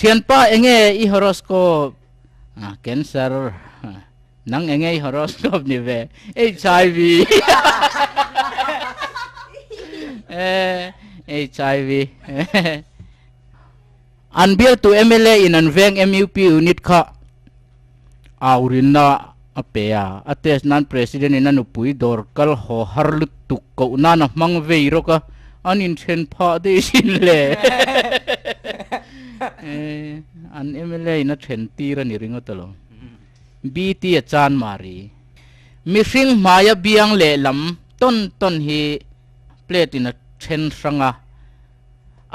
thianpa enge i horoscope ah cancer nang enge i horoscope ni ve hiv hiv An bialtu mla in an veng MUP unit kha au rinna a pe a, a test nan President in a nupui dawr kal haw har lutuk koh nan a hmang vei rawk a, an inthen phah daih sin le an mla in a then tir a ni ringawt a lo. BT a chan mari. Mihring hmai a biang leh lam tawn tawn hi plate in a then hrang a.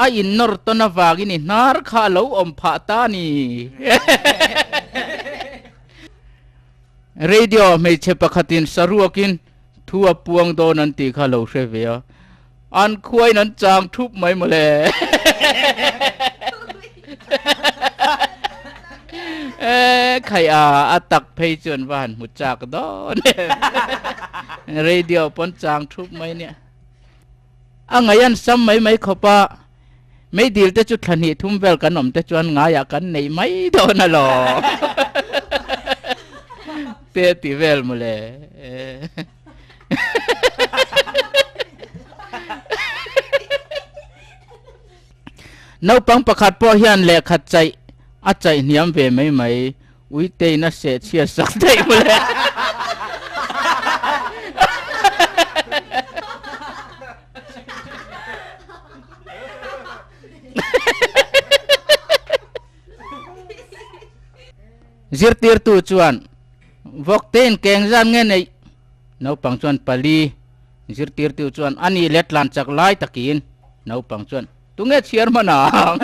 A innawr tawn avangin i hnar kha a lo awm phah ta ni. Radio ah hmeichhe pakhatin sa ruakin thu a puang dawn an tih kha a lo hre ve a, an khuain an chang thup mai maw le. Khai a, a tak phei chuan va han hmu chak dawn em. Radio pawn chang thup mai nia. A ngaih an sam mai mai khawp a, meidil te chu thla hnih thum vel kan awm te chuan ngai ah kan neih mai dawn alawm te ti vel maw le Naupang pakhat pawh hian lehkhat chaih a chaih hniam ve mai mai. Uiteiin a seh chhiar sak daih maw le? Zirtirtu chuan Vawkteiin keng zan nge neih? Naupang chuan pali. Zirtirtu chuan a nih leh tlanchak lai takin naupang chuan. Tunge chhiar hman ang?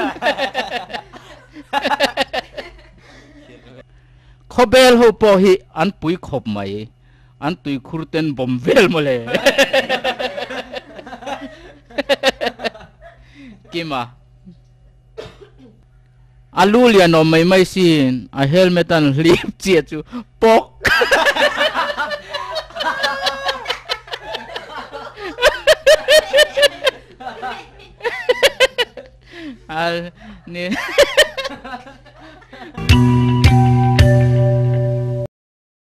Khawbel ho pawh hi an pui khawp mai. An tuikhur ten bawm vel maw le? Kima. A lu lian awm mai mai sin a helmet an hlip chiah chu pawk ani.